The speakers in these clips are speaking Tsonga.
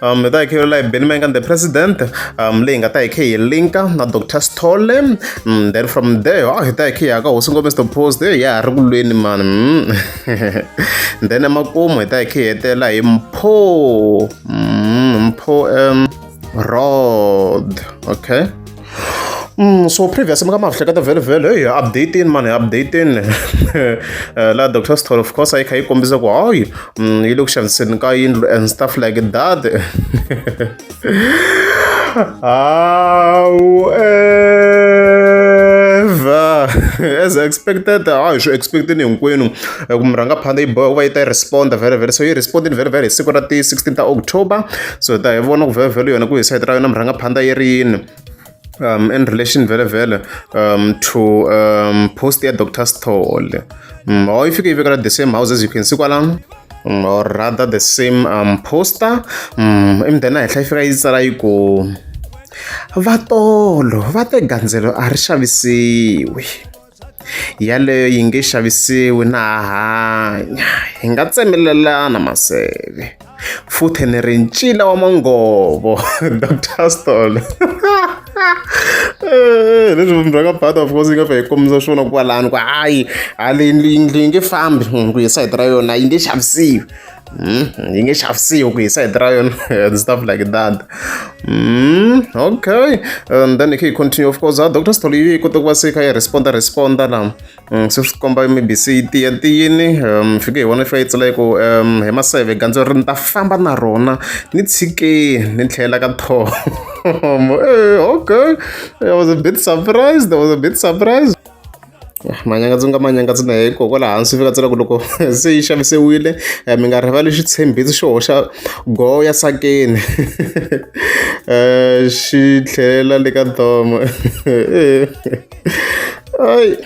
um hi ta hi kheyela hi benny mangan the president um leyi nga ta hi khe hi linka na dr stole um then from there a hi ta hi khe ya ka hosi ngome mr post ya ha ri ku lweni mani mm. then emakumu hi ta hi khe hi hetela hi mpho mm, mpho um rod okay Mm, so previous mi ka ma hleketa vhele vhele hey updating mani updating eh, la dr stor of course yi kha yi kombisa ku hayi mm, yi le ku xaviseni ka yindlu and stuff like that however as expected hayi swi expecteni hinkwenu hi ku murhangaphandle yi boha ku va yi ta yi respond vhele vhele so yi respondini vhele vhele hi siku ra ti 16 ta october so hi ta hi vona ku vhele vhele yona ku hi sayiti ra yona murhangaphandle yi ri yini um, in relation vele vele um, to um, post ya dr stole um, or if you can even the same house as you can see kwala um, or rather the same um, poster um, imdena henhla yi fika yi tsala yi ku vatolo va te gandzelo a ri xavisiwi yaleyo yi nge xavisiwi na hanya hi nga tsemelelana maseve futhi ni ri ncila wa mangovo dr stol eh, leswi vumbi bya ka bata of course yi nga fa hi kombisa swona kwalani ku hayi haleyindlu yi nge fambi ku hi sayiti ra yona yi nge xavisiwi Mm, yi nge xavisiwi ku hisa hi tirayon and stuff like that mm, okay and then hi continue of course dr stolo yi kota ku va se kha yi responda responda la mm, se swi komba maybe se yi tiya tiyini um fike hi vona fika yi tsela ku um hi maseve gandzo ri ni ta famba na rona ni tshikeni ni tlhela ka thomo eh, okay i was a bit surprised i was a bit surprised manyanga ndzi nga manyanga ndzi na hiko kwala hansi fika tsela ku loko se yi xavisiwile eh, mi nga rivali xitshembisi xo hoxa go ya sakeni um xi tlhelela le ka domo ai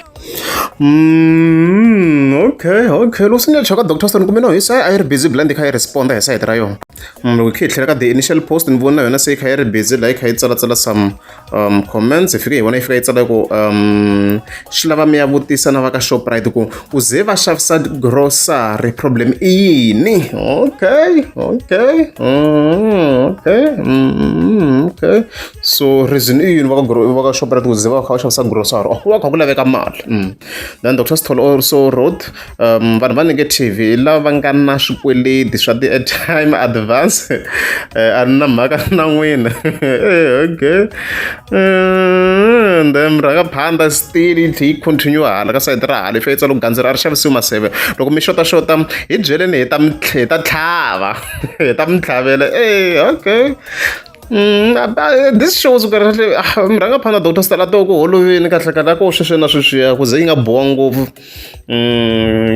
Mm, okay, okay. Loko swi nga chaka Dr. Stone kumbe no hi sa a yi ri busy bla ndi kha yi responda hi side ra yona. Mm, loko khe yi tlhela ka the initial post ni vona yona se yi kha yi ri busy la yi kha yi tsalatsala some um comments fike hi vona yi fika yi tsala ku um swi lava mi ya vutisa na va ka shoprite ku ku ze va xavisa grocery problem i yini okay okay mm, okay mm, okay so reason i yini va ka shoprite ku ze va kha va xavisa grocery oh, ku va kha ku laveka mali mm. then dr stol also wrote vanhu va negative hi lava va nga na swikweleti swa ti-airtime advance a ni na mhaka na n'wina okay and then rhanga phanda still yi tlhe yi continue hala ka sayiti ra hala leswi yitsa loko gandzeri a ri xavisiwi maseve loko mi xota xota hi byeleni hi ta hi ta tlhava hi ta mi tlhavela e okay Mm, uh, uh, this shows ku kahle ah, mrhanga phana dr stala to ku holovini kahle kahle ko sweswi na sweswiya ku ze yi nga bowa ngopfu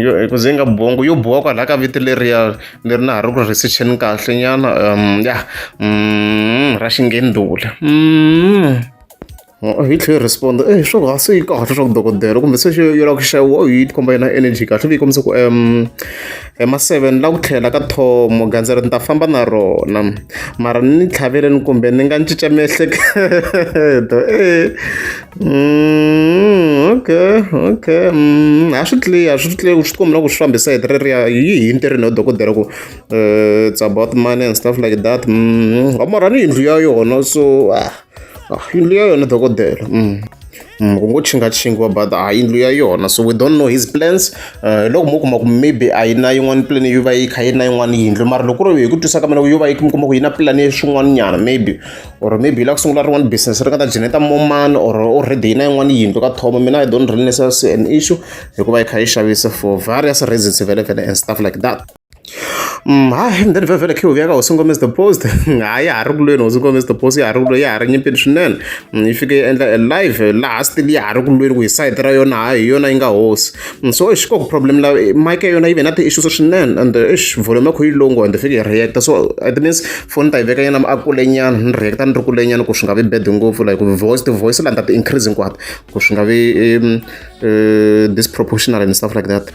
yo hi ku ze nga bongo yo boha kwalaha ka vito leriya leri na ha ri ku ri research-eni kahlenyana ya ra xingendula hi tlhela respond e swo va se yi kahle swa ku dokodela kumbe se yo lava ku xaviwa yi ti komba yona energy kahle yi kombisa ku Hi ma seven ni la ku tlhela ka thomo gandza ri ni ta famba na rona mara ni tlhavele ni kumbe ni nga ni cinca miehleketo okay okay a swi clear swi clear swi tikomba na ku swi fambisa hi reriya yi hi ntirhweni yo dokodela ku it's about money and stuff like that wa morhani yindlu ya yona so . yindlu ya yona dokodela mm. mm, ku ngo chingatshingiwa but a yindlu ya yona so we don't know his plans eh, hi loko mo kuma ku maybe a yi na yin'wana plan yo va yi kha yi na yin'wana yindlu mara loko ri hi ku twisa ka mina yo va yi kuma ku yi na plan ya swin'wana nyana maybe or maybe yi lava ku sungula rin'wana business ri nga ta geneta moman or already yi na yin'wana yindlu ka thoma mina i don't really necessarily an issue hikuva yi kha yi xavisa for various reasons vele vele and stuff like that Mm, hayi and then vhevhele khe uvuyaka hosi ngome is the post hayi ya ha ri kulweni hosi ngome is the post ya ha ri kulweni ya ha ri nyimpini swinene mm, yi fike yi endla e live laha still ya ha ri kulweni ku hi side ra yona hayi hi yona yi nga hosi mm, so ix koku problem la eh, mike yona yi ve na ti-issues swinene and eh, ix volume kho yi longo and fike hi reacta so it means foni ta yi veka yena a kulenyana ni reacta ni ri kulenyana ku swi nga vi bad ngopfu like voice ti-voice la ni ta ti-increase hinkwato ku swi nga vi um, uh, disproportional and stuff like that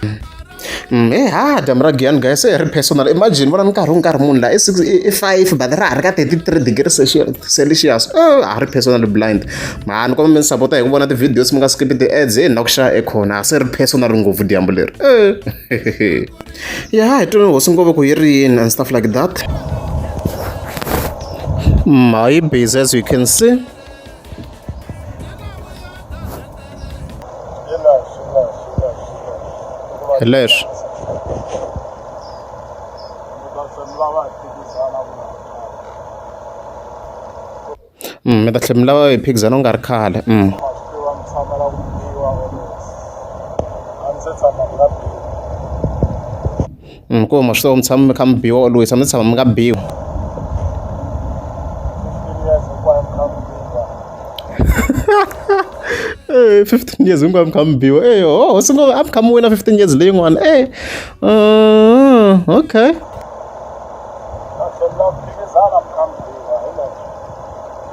He haa dyambu ra Giyani guys se hi ri personal imagine vona nkarhi u nkarhi munhu la i six i five but ra ha ri ka thirty three degree celsius a ha ri personal blind ma ni kombela mi ni sapota hi ku vona ti-videos mi nga skipi ti-ads hi na ku xava ekhona se ri personal ngopfu dyambu leri ya hi tweni hosi ngopfu ku yi ri yini and stuff like that my busy as you can see Leż. Mm, mi ta tlhela mi lava hi phikizana u nga ri khale mm. Inkomu ma swi tiva mi tshama mi kha mi biwa or lwisa mi tshama mi nga biwi Eh, 15 years hinkwavo mi kha mi biwa e ho hosi ngo a mi kha mi wina 15 years leyin'wana e okay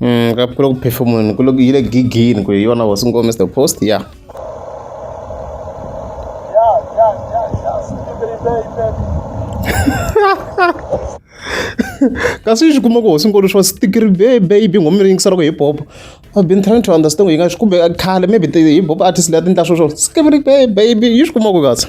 Mm, ka ku phefumuleni ku yi le gigini ku hi yona hosi ngome the post ya yeah. kasi yi swi kuma ku hosi nkulu swa stikiri baby ngoma mi yingisela ku hip hop i've been trying to understand ku yi nga swi kumbe khale maybe hip hop artist leyi a ti ndla swo swo stikiri baby yi swi kuma ku kasi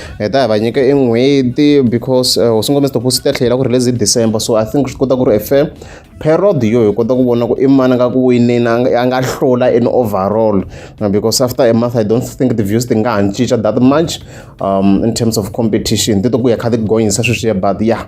hi ta hi va nyika i n'hweti because eh, hosi ngombe sitopo swi ta tlhela ku ri lezi december so i think swi kota ku ri a fair period yo hi kota ku vona ku i mani nga ku winini a nga- a nga hlula in overall Uh, because after a month i don't think the views ti nga ha cinca that much um, in terms of competition ti to ku ya kha ti gonyisa sweswiya but yeah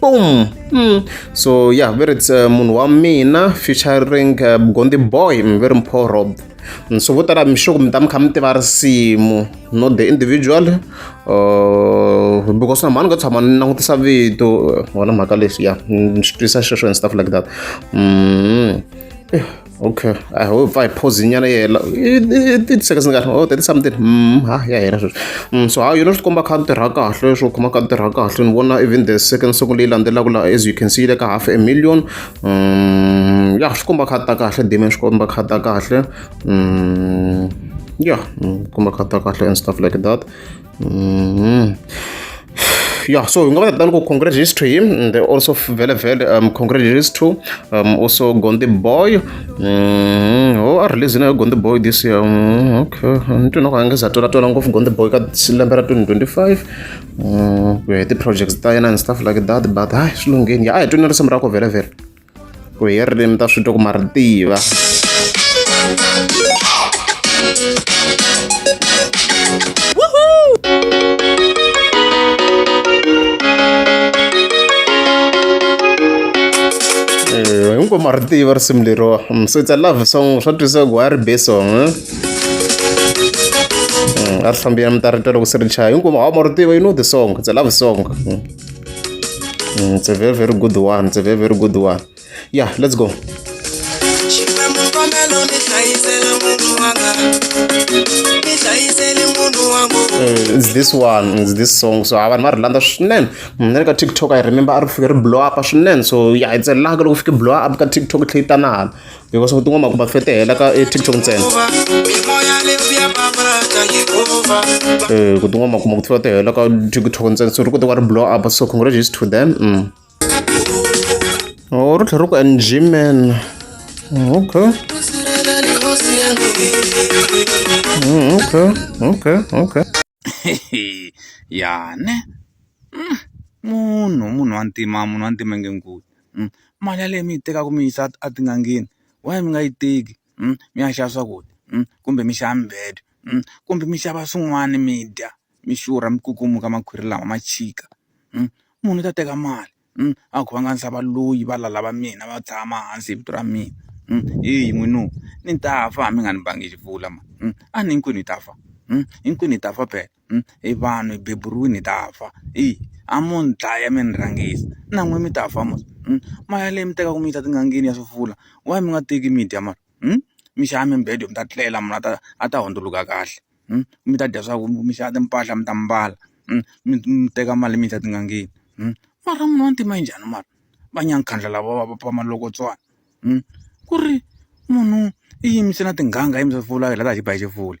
boom mm. so yeah very it's uh, munhu wa mina featuring uh, gondi boy mm, very mpo rob mm, so vo tala mixoko mi ta mi kha mi tiva risimu not the individual uh, because na mhani nga tshama ni langutisa vito wona mhaka leswi ya ni swi twisa xexo and stuff like that mm. okay i hope i pause nyana yela thirty seconds ni kahle oh thirty something mm ha ya hela sweswi mm so how you know swi komba kha tirha kahle swo khoma kha tirha kahle ni vona even the second song leyi landzelaka la as you can see le ka half a million mm ya swi komba kha ta kahle dime swi komba kha ta kahle mm ya mm, komba kha ta kahle and stuff like that Mm. yeah so hi nga va tani ku congrats is to him and also vele vele um congrats is to um also gondi boy mm, oh a release na gondi boy this year mm, okay nitwina ku angeza tola tola ngopfu gondi boy ka lembe ra 2025 mm, ku ya hi ti-projects ta yena and stuff like that but hayi swi lungheni ya a hi twini risimu ra ku vele vele ku hi ririmi ta switoko ma ri tiva hinkwavo ma ri tiva risimu leriwa mm, so it's a love song swa twisa ku a ri be song eh? mm, a ri hlambiyana mi ta ri twa loko se ri chaya hinkwavo hawa ma ri tiva you know the song it's a love song mm. Mm, it's a very, very good one. It's a very, very good one. Yeah, let's go. Mm, it's this one it's this song so vanhu va ri landza swinene mm, na le ka tiktok i remember a ri fike ri blow up swinene so yeah it's a laka loko fike blow up ka tiktok tlhe yi tanana because u tin'wana makumba fetehela ka eh, tiktok ntsena um ku tin'wana makumba ku tlula tihela ka tiktok ntsena so ri kote wa ri blow up so congratulations to them mm. oh, ri tlhela ri ku ng man mm, okay mm, okay okay okay yane munhu munhu wa ntima munhu wa ntima nge nkulu mali yaleyo mi yi tekaka mi yisa a tin'angeni why mi nga yi teki mi ya xava swakudya kumbe mi xava mibedo kumbe mi xava swin'wana mi dya mi xurha mi kukumuka makhwiri lawa ma chika munhu u ta teka mali a ku va nga ndzi valoyi va lala va mina va tshama hansi hi vito ra mina heyi n'wina ni ta fa mi nga ni bangi xi pfula mhani a ni hinkwenu hi ta fa hinkwenu hi ta fa phela. i vanhu hi beburiwile hi ta fa i a mo ni dlaya mi ni rhangisa na n'wina mi ta fa mos mali yaleyo mi tekaka mi yisa etin'angeni ya swivula why mi nga teki mi dya mara mi xava mibedo mi ta tlela munhu a ta a ta hundzuluka kahle mi ta dya swaku mi xava timpahla mi ta mbala mi mi teka mali mi yisa etin'angeni mara munhu wa ntima i njhani mara va nyankhandla lava va va malokotswana ku ri munhu i yimise na tin'anga i yimisa swivula hi la hi ba hi xifula.